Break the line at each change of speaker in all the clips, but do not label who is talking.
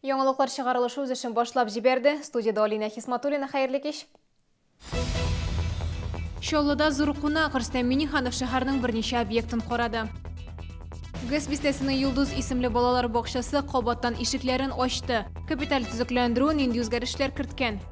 Яңалыклар чыгарылышы үз эшен башлап җибәрде. Студияда Алина Хисматуллина, хәерле кич. Чаллыда зур кунак Рөстәм Миниханов шәһәрнең берничә объектын карады. Гыз бистәсенең Юлдыз исемле балалар бакчасы кабаттан ишекләрен ачты. Капиталь төзекләндерү нинди үзгәрешләр керткән?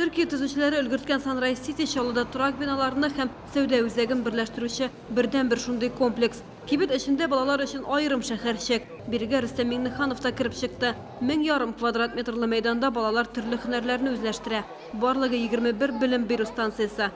Төркия төзүчеләре өлгерткән Sunrise City Чаллыда торак биналарны һәм сәүдә үзәген берләштерүче бердәнбер шундый комплекс. Кибет эчендә балалар өчен аерым шәһәрчек. Бирегә Рөстәм Миңнеханов та кереп чыкты. Мең ярым квадрат метрлы мәйданда балалар төрле һөнәрләрне үзләштерә. Барлыгы 21 белем бирү станциясе.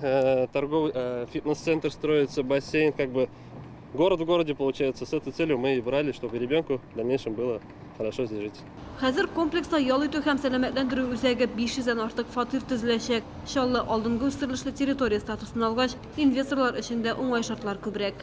э, торговый э, фитнес-центр строится, бассейн, как бы город в городе получается. С этой целью мы и брали, чтобы ребенку в дальнейшем было хорошо здесь жить. Хәзер комплекста
ял итү һәм сәламәтләндерү үзәге 500 дән артык фатир төзеләчәк. Чаллы алдынгы үстерелешле территория статусын алгач, инвесторлар өчен дә уңай шартлар күбрәк.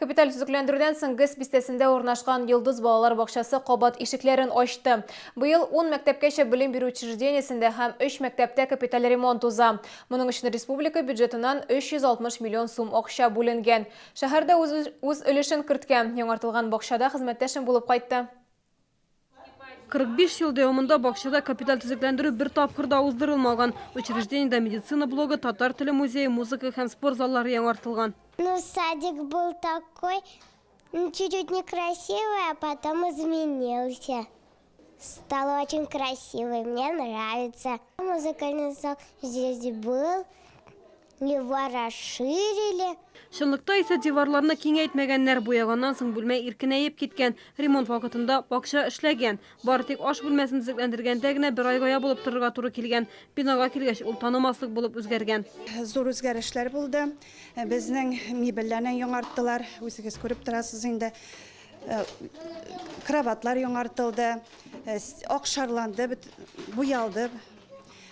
Капиталь
төзекләндерүдән соң ГЭС бистәсендә урнашкан Йолдыз балалар бакчасы кабат ишекләрен ачты. Быел ун мәктәпкәчә белем бирү учреждениесендә һәм өч мәктәптә капиталь ремонт уза. Моның өчен республика бюджетыннан 360 миллион сум акча бүленгән. Шәһәр дә үз өлешен керткән, яңартылган бакчада хезмәттәшем булып кайтты.
45 ел дәвамында бакчада капиталь төзекләндерү бер тапкыр да уздырылмаган. Учреждениедә медицина блогы, татар теле музее, музыка һәм спорт заллары яңартылган. Ну, садик
был такой, чуть-чуть некрасивый, а потом изменился. Стал очень красивый, мне нравится. Музыкальный зал здесь был. Не ворошили. Чынлыкта
исә диварларны киңәйтмәгәннәр, буяганнан соң бүлмә иркенәеп киткән. Ремонт вакытында бакча эшләгән. Бары тик аш бүлмәсен төзекләндергәндә генә бер айга ябылып торырга туры килгән. Бинага килгәч, ул танымаслык булып үзгәргән. Зур үзгәрешләр
булды. Безнең мебельләрне яңарттылар. Үзегез күреп торасыз инде. Кроватьлар яңартылды. Акшарланды, буялды.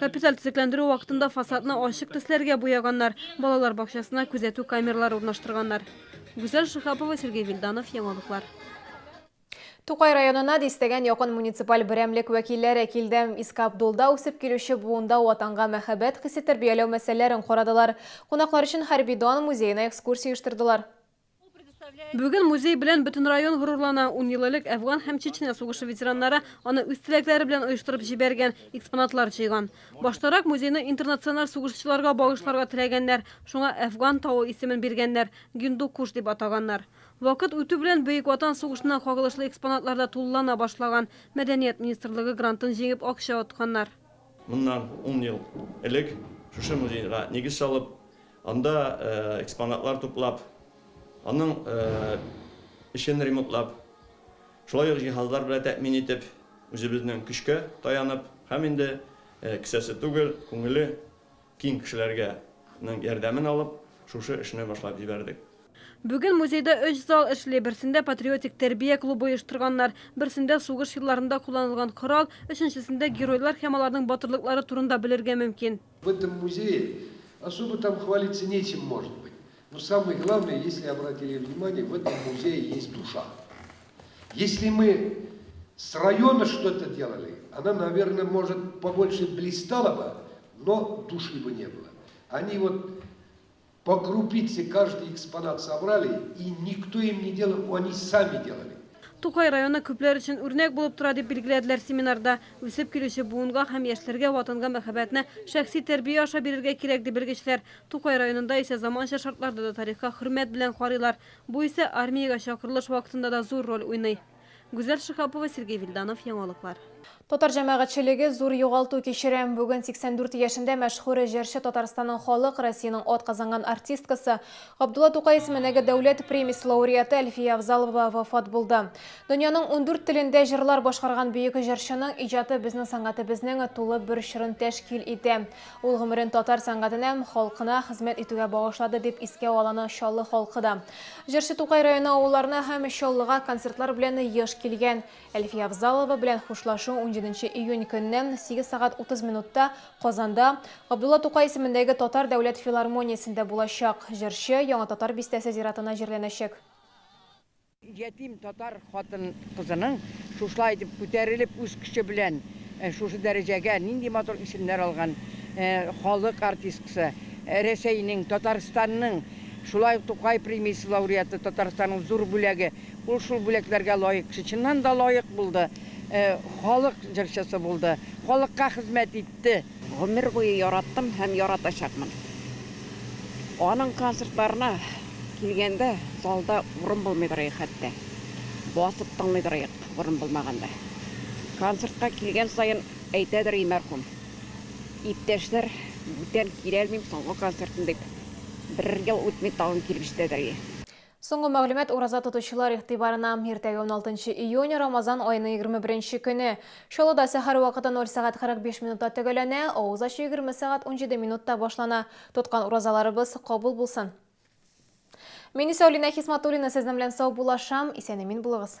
Капиталь төзекләндерү
вакытында фасадны ачык төсләргә буяганнар, балалар бакчасына күзәтү камералары урнаштырганнар. Гүзәл Шиһапова, Сергей Вильданов, Яңалыклар.
Тукай районына дистәгән якын муниципаль берәмлек вәкилләре килде. Иске Абдулда үсеп килүче буында Ватанга мәхәббәт хисе тәрбияләү мәсьәләләрен карадылар. Кунаклар өчен хәрби дан музеена экскурсия оештырдылар.
Бүген музей белән бөтен район горурлана. Ун ел элек Әфган һәм Чечня сугышы ветераннары аны үз теләкләре белән оештырып җибәргән, экспонатлар җыйган. Баштарак музейны интернациональ сугышчыларга багышларга теләгәннәр, шуңа Әфган тавы исемен биргәннәр, Гиндукуш дип атаганнар. Вакыт үтү белән Бөек Ватан сугышына кагылышлы экспонатлар да тулылана башлаган. Мәдәният министрлыгы грантын җиңеп акча отканнар. Моннан
ун ел элек шушы музейга нигез салып, анда экспонатлар туплап, аның эчен ремонтлап, шулай ук җиһазлар белән тәэмин итеп, үзебезнең көчкә таянып һәм инде кесәсе түгел, күңеле, Киң кешеләргә нең ярдәмен алып, шушы эшне башлап җибәрдек. Бүген
музейда өч зал эшли, берсендә патриотик тәрбия клубы оештырганнар, берсендә сугыш елларында кулланылган корал, өченчесендә геройлар һәм аларның батырлыклары турында белергә мөмкин. В этом музее
особо там хвалиться нечем может быть, но самое главное, если обратили внимание, в этом музее есть душа. Если мы с района что-то делали, она наверное может побольше блистала бы, Но души бы не было. Они вот по крупице каждый экспонат собрали, и никто им не делал, они сами делали. Тукай районы
күпләр өчен үрнәк булып тора, дип билгеләделәр семинарда. Үсеп килүче буынга һәм яшьләргә Ватанга мәхәббәтне шәхси тәрбия аша бирергә кирәк, ди белгечләр. Тукай районында исә заманча шартларда да тарихка хөрмәт белән карыйлар. Бу исә армиягә чакырылыш вакытында да зур роль уйный. Гүзәл Шиһапова, Сергей Вильданов, Яңалыклар. Татар
җәмәгатьчелеге зур югалту кичерә. Бүген 84 яшендә мәшһүр җырчы Татарстанның халык, Россиянең атказанган артисткасы, Габдулла Тукай исеменәге дәүләт премиясе лауреаты Әлфия Авзалова вафат булды. Дөньяның ундүрт телендә җырлар башкарган бөек җырчының иҗаты безнең сәнгатебезнең тулы бер чорын тәшкил итә. Ул гомерен татар сәнгатенә һәм халкына хезмәт итүгә багышлады, дип искә аланы Чаллы халкы да. Җырчы Тукай районы авылларына һәм Чаллыга концертлар белән еш килгән. Әлфия Авзалова белән хушлашу унҗиденче июнь көнне, сигез сәгать утыз минутта, Казанда, Габдулла Тукай исемендәге Татар дәүләт филармониясендә булачак. Җырчы Яңа Татар бистәсе зиратына җирләнәчәк.
Ятим татар хатын-кызының шушылай итеп күтәрелеп, үз көче белән шушы дәрәҗәгә нинди матур исемнәр алган халык артисткасы, Рәсәйнең, Татарстанның, шулай ук Тукай премиясе лауреаты, Татарстанның зур бүләге. Ул шул бүләкләргә лаек кеше. Чыннан да лаек булды. Халык җырчысы булды. Халыкка хезмәт итте. Гомер буе
яраттым һәм яратачакмын. Аның концертларына килгәндә залда урын булмый торыйк хәтта. Басып тыңлый торыйк, урын булмаганда. Концертка килгән саен әйтәдер и мәрхүм, Иптәшләр, бүтән киләлмим соңгы концертым дип, бер ел үтми тагын килеп җитәдер и. Соңгы
мәгълүмат ураза тотучылар игътибарына. Иртәгә уналтынчы июнь, Рамазан аеның егерме беренче көне. Чаллыда сәхәр вакыты ноль сәгать кырык биш минутта төгәлләнә, авыз ачу егерме сәгать унҗиде минутта башлана. Тоткан уразаларыбыз кабул булсын! Мин исә Алинә Хисматуллина сезнең белән саубуллашам, исән-имин булыгыз!